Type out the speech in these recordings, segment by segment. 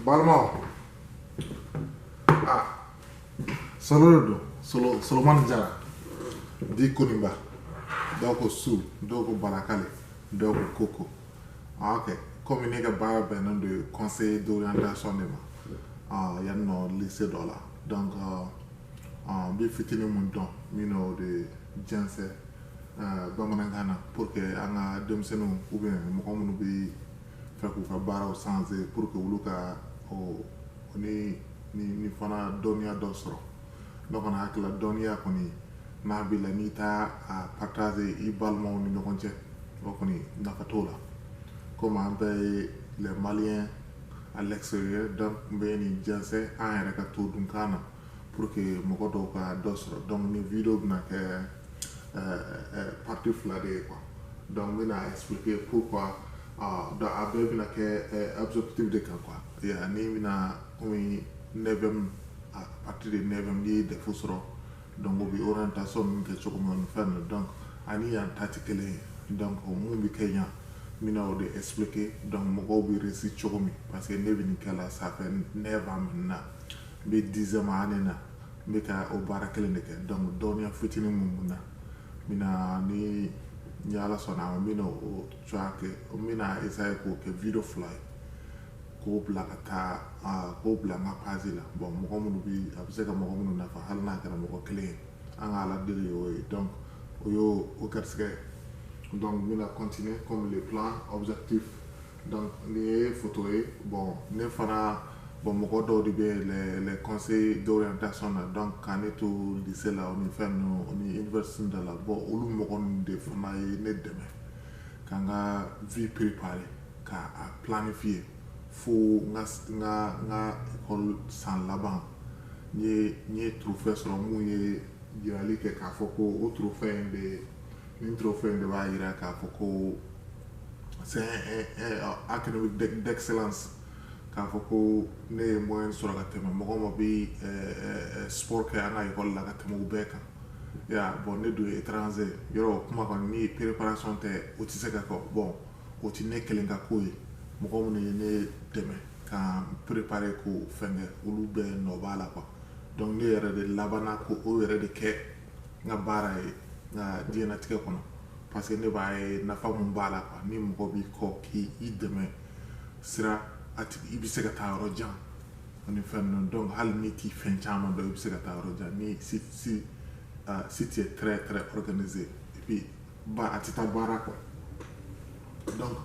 balimaw ah solo de don solo solomani jara dit koniba dɔw ko su dɔw ko barakale dɔw ko koko ah, ok komi ne ka baara bɛnnen don conseil d'orientation de ma ah, yan nɔ lycée dɔ la donc ah, ah, n bɛ fitinin mun dɔn n bɛn'o de jɛnsɛn bamanankan na pour que an ka denmisɛnninw ou bien mɔgɔ minnu b'a fɛ k'u ka baaraw changer pour que olu ka o ni ni ni fana dɔnniya dɔ sɔrɔ ne kɔni hakili la dɔnniya kɔni n'a b'i la n'i t'a a partager i balimaw ni ɲɔgɔn cɛ o kɔni nafa t'o la komi an bɛɛ ye les maliens à l'extérieur donc n bɛ nin jɛnsɛn an yɛrɛ ka to dunkan na pour que mɔgɔ dɔw ka dɔ sɔrɔ donc nin video bɛna kɛ partie fila de ye quoi donc n bɛna expliquer pourquoi donc a bɛɛ bɛna kɛ objectif de kan quoi ya ni bɛna komi neuvième à partir de neuvième n'i ye defu sɔrɔ donc o bɛ orientation min kɛ cogo min na fɛn na donc ani yan ta tɛ kelen ye donc mun bɛ kɛ yan n bɛna o de expliquer donc mɔgɔw bɛ réussir cogo min parce que ne bɛ nin kɛ la ça fait neuf ans maintenant n bɛ dixième année na n bɛ ka o baara kelen de kɛ donc dɔnniya fitinin mun bɛ n na n bɛna ni ni ala sɔnna a n bɛna o cogoya kɛ n bɛna essayer k'o kɛ video fila ye k'o bila ka taa k'o bila n ka page la bon mɔgɔ minnu bɛ a bɛ se ka mɔgɔ minnu nafa hali n'a kɛra mɔgɔ kelen ye an ka ala deli y'o ye donc o y'o o garisigɛ ye donc n bɛna continuer comme le plan objectif donc nin ye foto ye bon ne fana bon mɔgɔ dɔw de bɛ les les conseils d'orientation na donc ka ne to lycée la o ni fɛn ninnu o ni université da la bon olu mɔgɔ ninnu de fana ye ne dɛmɛ ka n ka vie préparer ka a planifier fo n ka n ka n ka école san laban n ye trophée sɔrɔ mun ye jirali kɛ k'a fɔ ko o trophée in bɛ nin trophée in de b'a jira k'a fɔ ko c'est un académique d'excellence k'a fɔ ko ne ye moyenne sɔrɔ ka tɛmɛ mɔgɔ min bɛ sport kɛ an ka école la ka tɛmɛ u bɛɛ kan ya bon ne don étranger yɔrɔ kuma kɔni ni préparation tɛ o tɛ se ka kɛ bon o tɛ ne kelen ka ko ye mɔgɔ minnu ye ne dɛmɛ ka préparer ko fɛn kɛ olu bɛɛ nɔ b'a la quoi donc ne yɛrɛ de labanna k'o yɛrɛ de kɛ n ka baara ye n ka diɲɛnatigɛ kɔnɔ parce que ne b'a ye nafa min b'a la quoi ni mɔgɔ b'i kɔ k'i i dɛmɛ sira a tigi i bɛ se ka taa yɔrɔ jan ani fɛn ninnu donc hali n'i t'i fɛn caman dɔn i bɛ se ka taa yɔrɔ jan ni si si uh, si tu es très très organisé et puis ba a tɛ taa baara kɔ donc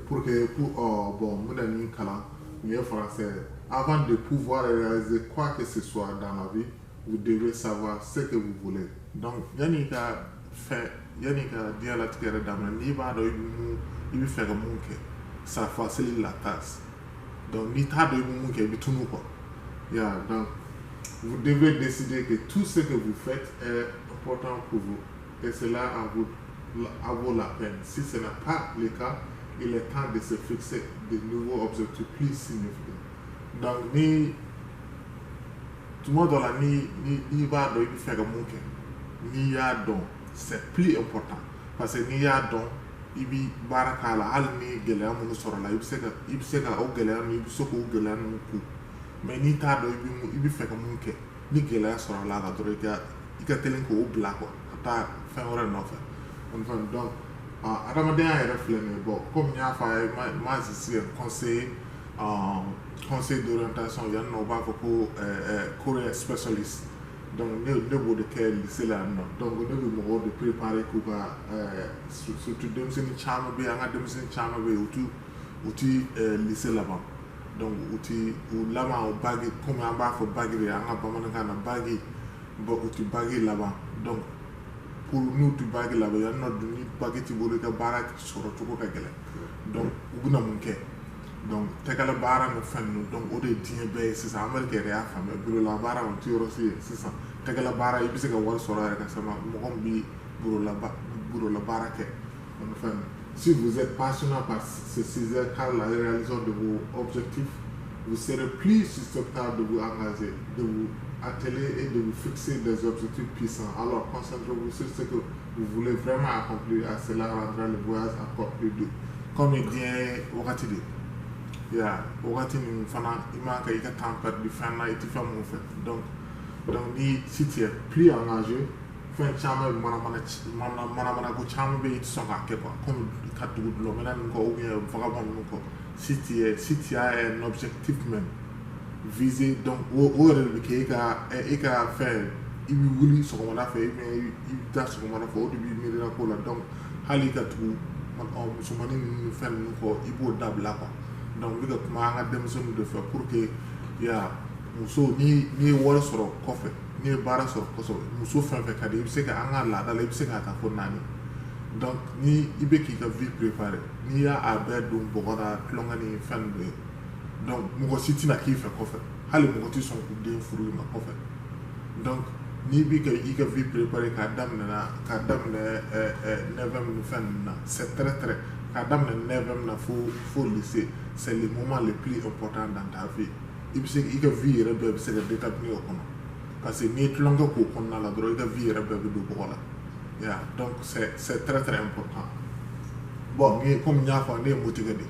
pour que pour oh, bon n bɛna min kalan n ye français avant de pouvoir réaliser quoi que ce soit dans la vie vous devez savoir ce que vous voulez donc yanni ka fɛn yanni ka diɲɛlatigɛ yɛrɛ daminɛ n'i b'a dɔn i bɛ mun i bɛ fɛ ka mun kɛ ça facilite la tâche donc n'i t'a dɔn i bɛ mun kɛ i bɛ tunu quoi ya donc vous devez décider que tout ce que vous faites est important pour vous et cela en vous en vaut la peine. Si ce n'est pas le cas, il est temps de se fixer de nouveaux objectifs plus significants. Donc, ni tuma dɔ la n'i b'a dɔn i bɛ fɛ ka mun kɛ n'i y'a dɔn c'est plus important parce que n'i y'a dɔn i bɛ baara k'a la hali ni gɛlɛya minnu sɔrɔla i bɛ se ka i bɛ se ka o gɛlɛya ninnu i bɛ se k'o gɛlɛya ninnu ku mais n'i t'a dɔn i bɛ i bɛ fɛ ka mun kɛ ni gɛlɛya sɔrɔla a la dɔrɔn i ka i ka teli k'o bila quoi ka taa fɛn wɛrɛ nɔfɛ donc adamadenya yɛrɛ filɛ nin ye bon comme n y'a fɔ a ye moi moi je suis conse en conseil d'orientation yan nɔ u b'a fɔ ko career specialist donc ne ne b'o de kɛ lycée la yan nɔ donc ne bɛ mɔgɔw de préparer k'u ka surtout denmisɛnnin caman bɛ yen an ka denmisɛnnin caman bɛ yen u ti u ti lycée laban donc u ti u laban o bagi comme an b'a fɔ bagi de an ka bamanankan na bagi u ti bagi laban donc pour n'u ti bagi laban yan nɔ dun ni bagi t'i bolo i ka baara sɔrɔ cogo ka gɛlɛn donc u bɛna mun kɛ donc tɛgɛla baara ni fɛn ninnu donc o de ye diɲɛ bɛɛ ye sisan Amérique yɛrɛ y'a faamuya bureau la baara o ti yɔrɔ si ye sisan tɛgɛla baara i bɛ se ka wari sɔrɔ yɛrɛ ka sama mɔgɔ min bi bureau la baara kɛ ani fɛn ninnu si vous êtes passionné par ce sujet car la réalisation de vos objectifs vous serez plus susceptible de vous engager de vous atteler et de vous fixer des objectifs puissants alors concentrez-vous sur ce que Vous voulez vraiment accomplir et cela rendra le voyage encore plus doux. Comme i diɲɛ wagati diɲɛ wagati nin fana i man kan i ka temps perdre fɛn na i tɛ fɛn min fɛ. Donc donc ni si tu es plus engagé fɛn caman bɛ manamana mana manamana ko caman bɛ yen i tɛ sɔn k'a kɛ quoi comme ka tugu dulɔminna ninnu kɔ ou bien vagabond ninnu kɔ si tu es si tu as un objectif même viser donc o o yɛrɛ de bɛ kɛ e ka e ka fɛn i bɛ wuli sɔgɔmada fɛ i bɛ i bɛ taa sɔgɔmada fɛ o de b'i miirina ko la donc hali ka tugu musomanin ninnu fɛn ninnu kɔ i b'o dabila quoi donc n bɛ ka kuma an ka denmisɛnninw de fɛ pour que ya muso ni n'i ye wari sɔrɔ kɔfɛ n'i ye baara sɔrɔ kosɛbɛ muso fɛn fɛn ka di i bɛ se ka an ka laada la i bɛ se k'a ta fo naani donc ni i bɛ k'i ka vie préparer n'i y'a a bɛɛ don bɔgɔ la tulonkɛ ni fɛn ninnu ye donc mɔgɔ si tɛna k'i fɛ kɔfɛ hali mɔgɔ tɛ sɔn k'u den furu i ma kɔfɛ donc n'i bɛ ka i ka vie préparer k'a daminɛ na k'a daminɛ ɛɛ ɛɛ neuvième ni fɛn ninnu na c'est très très k'a daminɛ neuvième na fo fo lycée c'est le moment le plus important dans ta vie i bɛ se i ka vie yɛrɛ bɛɛ bɛ se ka déterminer o kɔnɔ parce que n'i ye tulonkɛ k'o kɔnɔna la dɔrɔn i ka vie yɛrɛ bɛɛ bɛ don bɔgɔ la ya donc c'est c'est très très important bon ni komi n y'a fɔ ne ye motigɛ de ye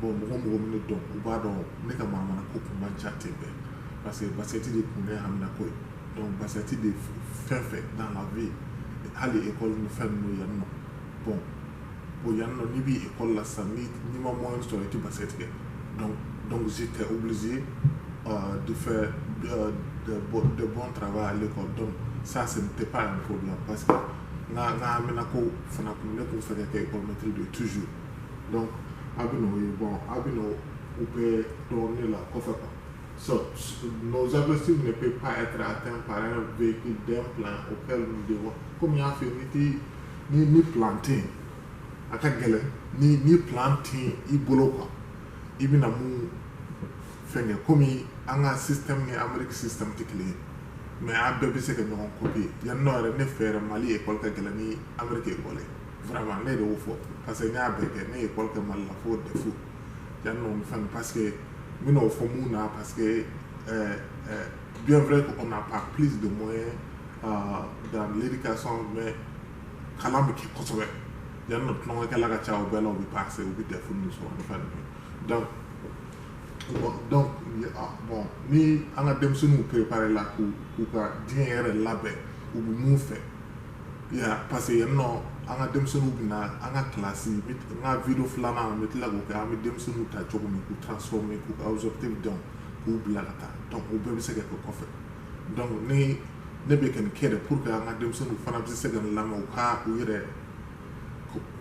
bon mɔgɔ mɔgɔ bɛ ne dɔn u b'a dɔn ne ka manamana ko tun man ca ten bɛɛ parce que basket de tun ne hamina ko ye donc basket de fɛn fɛn dans la vie hali ekɔli ni fɛn ninnu yan nɔ bon bon yan nɔ n'i bɛ ekɔli la sisan ni n'i ma moyenne sɔrɔ i tɛ basket kɛ donc donc j'étais obligé euh, de faire euh, de, de bon travail à l'école donc ça ce n'était pas un problème parce que n ka n ka hamina ko fana tun ne tun fɛ ka kɛ ekɔlimetri de toujours donc a bɛ n'o ye bon a bɛ n'o u bɛɛ dɔn ne la kɔfɛ quoi so nos objectifs ne peut pas être atteint par un véhicule d'un plan auquel nous devons comme n y'a f'i ye n'i tɛ ni ni plan tɛ yen a ka gɛlɛn ni ni plan tɛ yen i bolo quoi i bɛna mun fɛnkɛ komi an ka système ni Amérique système tɛ kelen ye mais an bɛɛ bɛ se ka ɲɔgɔn copier yan nɔ yɛrɛ ne fɛ yɛrɛ Mali école ka gɛlɛn ni Amérique école ye. vraiment ne de y'o fɔ parce que n y'a bɛɛ kɛ ne ye école kɛ Mali la fo DEF yan nɔ ni fɛn parce que n bɛna o fɔ mun na parce que euh, euh, bien vrai qu'on n'a pas plus de moyens euh, dans l'éducation mais kalan bɛ kɛ kosɛbɛ yan nɔ tulonkɛkɛla ka ca o bɛɛ la u bɛ passer u bɛ DEF ninnu sɔrɔ ni fɛn ninnu donc bon donc ah, bon ni an ka denmisɛnninw préparer la k'u k'u ka diɲɛ yɛrɛ labɛn u bɛ mun fɛ. Parce que yan nɔ an ka denmisɛnninw bɛ na an ka kilasi n ka vidéo filanan n bɛ tila k'o kɛ an bɛ denmisɛnninw ta cogo min k'u transformer k'u ka objectif dɔn k'u bila ka taa donc o bɛɛ bɛ se ka kɛ kɔfɛ donc ne bɛ ka nin kɛ de pour que an ka denmisɛnninw fana bɛ se ka nin lamɛn u ka u yɛrɛ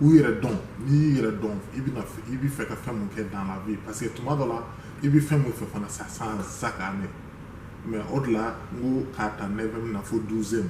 u yɛrɛ dɔn n'i y'i yɛrɛ dɔn i i bɛ fɛ ka fɛn min kɛ dans la vie parce que tuma dɔ la i bɛ fɛn min fɛ fana ça change chaque année mais o de la n ko k'a ta neuvième na fo douzième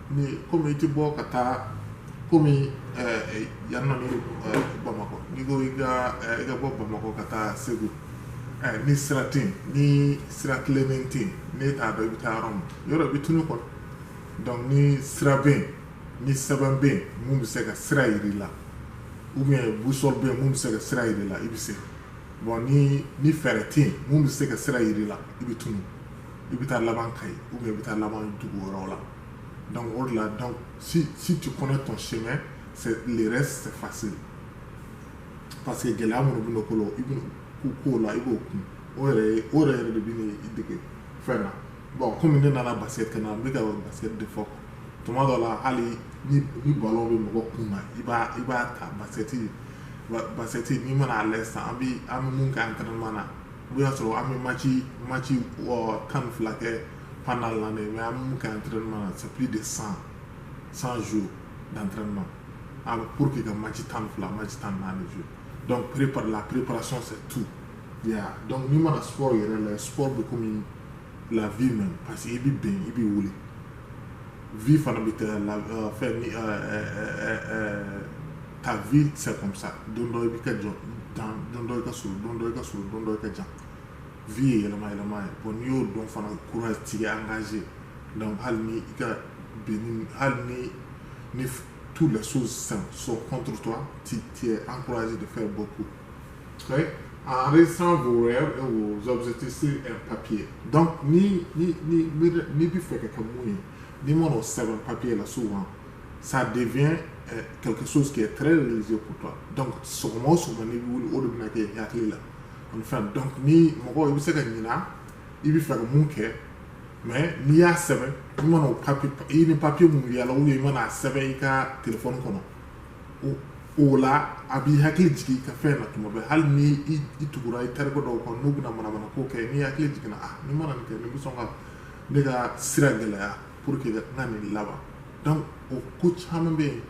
Ni comme i tɛ bɔ ka taa comme yan nɔ Bamakɔ n'i ko i ka bɔ Bamakɔ ka taa Segu ni sira tɛ yen ni sira tilennen tɛ yen n'i t'a dɔn i bɛ taa yɔrɔ min yɔrɔ i bɛ tunu quoi donc ni sira bɛ yen ni sɛbɛn bɛ yen min bɛ se ka sira jira i la ou bien boussole bɛ yen min bɛ se ka sira jira i la i bɛ se bon ni fɛɛrɛ tɛ yen min bɛ se ka sira jira i la i bɛ tunu. i bɛ taa laban Kayi ou bien i bɛ taa laban dugu wɛrɛw la donc o de la donc si si tu connais ton chemin c'est le reste c'est facile parce que gɛlɛya minnu bɛ n'o ko la i bɛ k'u k'o la i b'o kun o yɛrɛ o yɛrɛ yɛrɛ de bɛna i dege fɛn na bon komi ne nana basket kɛ na n bɛ ka basket de fɔ tuma dɔ la hali ni ni ballon bɛ mɔgɔ kun na i b'a i b'a ta basket basket n'i mana a lajɛ sisan an bɛ an bɛ mun kɛ entraînement na o y'a sɔrɔ an bɛ maci maci tan ni fila kɛ pendant l'année mais an mun kɛ entraînement na c'est plus de 100 100 jours d'entraînement ah, pour que ka maci tan ni fila maci tan ni naani jouer donc prépare la préparation c'est tout yeah. donc n'i mana sport yɛrɛ lajɛ sport bɛ komi la vie même parce que i bɛ bin i bɛ wuli vie fana bɛ ten de euh, fɛn ni euh, euh, ta vie c'est comme ça don dɔ i bɛ ka jɔ dan don dɔ i ka surun don dɔ i ka surun don dɔ i ka jan vie ye yɛlɛma yɛlɛma ye bon n'i y'o dɔn fana courage tigɛ engagé donc hali ni i ka bin hali ni ni toutes les choses sont sont contre toi tu tu es encouragé de faire beaucoup en restant vos rêves et vos objectifs sur un papier. Donc, ni, ni, ni, ni, n'i bɛ fɛ ka kɛ mun ye n'i mana o sɛbɛn papier la souvent ça devient euh, quelque chose qui est très religieux pour toi donc sɔgɔma o sɔgɔma n'i bɛ wuli o de bɛna kɛ i hakili la ani fɛn donc ni mɔgɔ i bɛ se ka ɲina i bɛ fɛ ka mun kɛ mais n'i y'a sɛbɛn i mana o papier i ni papier mun yaala ou i mana a sɛbɛn i ka telefɔni kɔnɔ o o la a b'i hakili jigin i ka fɛn na tuma bɛɛ hali ni i i tugura i terikɛ dɔw kɔ n'u bɛna manamana ko kɛ n'i hakili jiginna ah ni n mana nin kɛ nin bɛ sɔn ka ne ka sira gɛlɛya pour que n ka nin laban donc o ko caman bɛ yen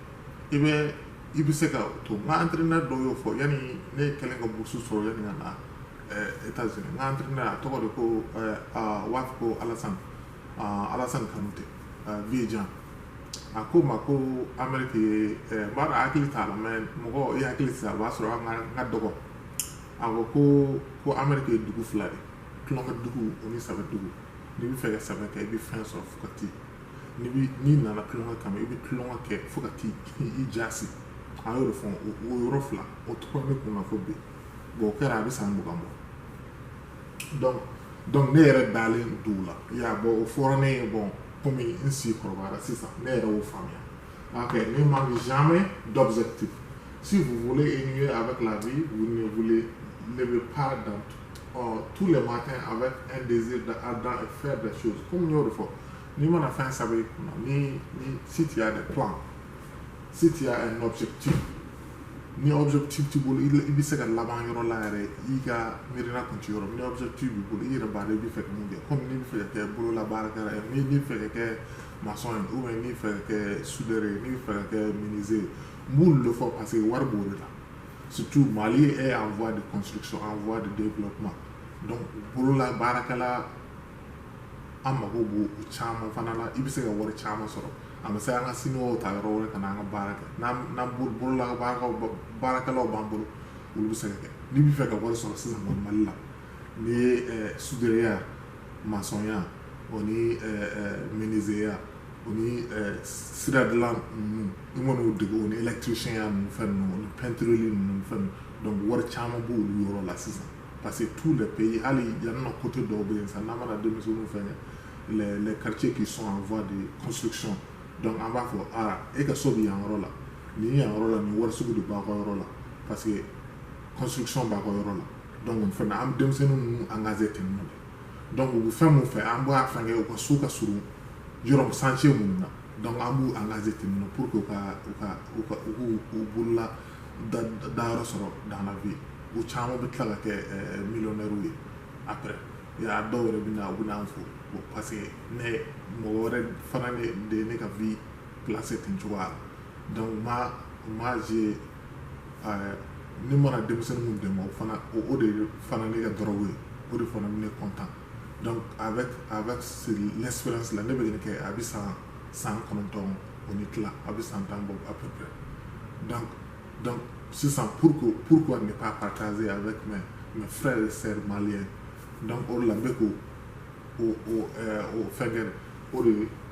i bɛ i bɛ se ka o to n ka entraîneur dɔw y'o fɔ yanni ne kɛlen ka bourse sɔrɔ yanni ka na ɛɛ États-Unis n ka entraîneur a tɔgɔ de ko ɛɛ a waati ko Alassane ɛɛ Alassane Kanute ɛɛ vieux Jean a ko n ma ko Amérique ye ɛɛ n b'a dɔn a hakili t'a la mais mɔgɔ i hakili tɛ se a b'a sɔrɔ an ka n ka dɔgɔ a ko ko ko Amérique ye dugu fila de ye tulonkɛ dugu o ni sɛbɛ dugu n'i bɛ fɛ ka sɛbɛ kɛ i bɛ fɛn sɔrɔ fo ka t'i n'i bi n'i nana tulonkɛ kama i bɛ tulonkɛ kɛ fo ka t'i i jasi an y'o de fɔ o yɔrɔ fila o tora ne kun na fo bi bon o kɛra a bɛ san mugan bɔ donc donc ne yɛrɛ dalen d'o la y'a bɔ o fɔra ne ye bon komi n si kɔrɔbayara sisan ne yɛrɛ y'o faamuya ok ne manque jamais d'objectif si vous voulez évoluer avec la vie vous ne voulez lever pas dans ɔ tous les matins avec un désir de ardent et faire des choses comme n y'o de fɔ n'i mana fɛn saba i kunna ni ni si tu as des plans si tu as un objectif ni objectif t'i bolo i bɛ se ka laban yɔrɔ la yɛrɛ i ka miirina kun ti yɔrɔ ni objectif b'i bolo i yɛrɛ b'a dɔn i bɛ fɛ ka mun kɛ komi n'i bɛ fɛ ka kɛ bololabaarakɛla ye n'i n'i bɛ fɛ ka kɛ maçon ye ou bien n'i bɛ fɛ ka kɛ soudeur ye n'i bɛ fɛ ka kɛ menuisier ye n b'olu de fɔ parce que wari b'o de la surtout Mali est en voie de construction en voie de développement donc bolola baarakɛla an mago b'o o caman fana la i bɛ se ka wari caman sɔrɔ a ma se an ka siniwaw ta yɔrɔ wɛrɛ ka na an ka baara kɛ n'an n'an bolo bolola baarakɛlaw ba- baarakɛlaw b'an bolo olu bɛ se ka kɛ n'i bɛ fɛ ka wari sɔrɔ sisan kɔni mali la n'i ye eh, sudereya masɔnya o ni eh, eh, menuiseya o ni sira dilan ninnu i man'o dege o ni électricienya ninnu fɛn ninnu ni peintre ninnu fɛn donc wari caman b' olu yɔrɔ la sisan parce que tous les pays hali yan nɔ côté dɔw bɛ yen san n'a mana denmisɛnnin fɛn les quartiers qui sont en voie de construction donc an b'a fɔ aa e ka so bɛ yan yɔrɔ la ni yan yɔrɔ la ni wari sugu de b'a ka yɔrɔ la parce que construction b'a ka yɔrɔ la donc fana an denmisɛnnin ninnu engager ten donc u bɛ fɛn mun fɛ an b'a fɛn kɛ u ka so ka surun yɔrɔ chantier minnu na donc an b'u engager ten nɔ pour que u ka u ka u ka u k'u u bolola da dayɔrɔ sɔrɔ dans la vie u caman bɛ tila ka kɛ ɛɛ millionnaires ye après a dɔw yɛrɛ bɛ na u bɛ n'an fo bon parce que ne mɔgɔ wɛrɛ fana de ye ne ka vie placer ten cogoya la donc moi moi je ni mana denmisɛnnin dɛmɛ o fana o de fana ne ka dɔrɔn ye o de fana ne kɔntan a bɛ a bɛ lɛsirasi la ne bɛ nin kɛ a bɛ san san kɔnɔntɔn o ni tila a bɛ san tan bɔ a bɛ sisan pur purku ne pa patazse a bɛ tun mɛ fɛrɛ yɛrɛ seri mali ye o la bɛ ko o fɛnkɛ o de ye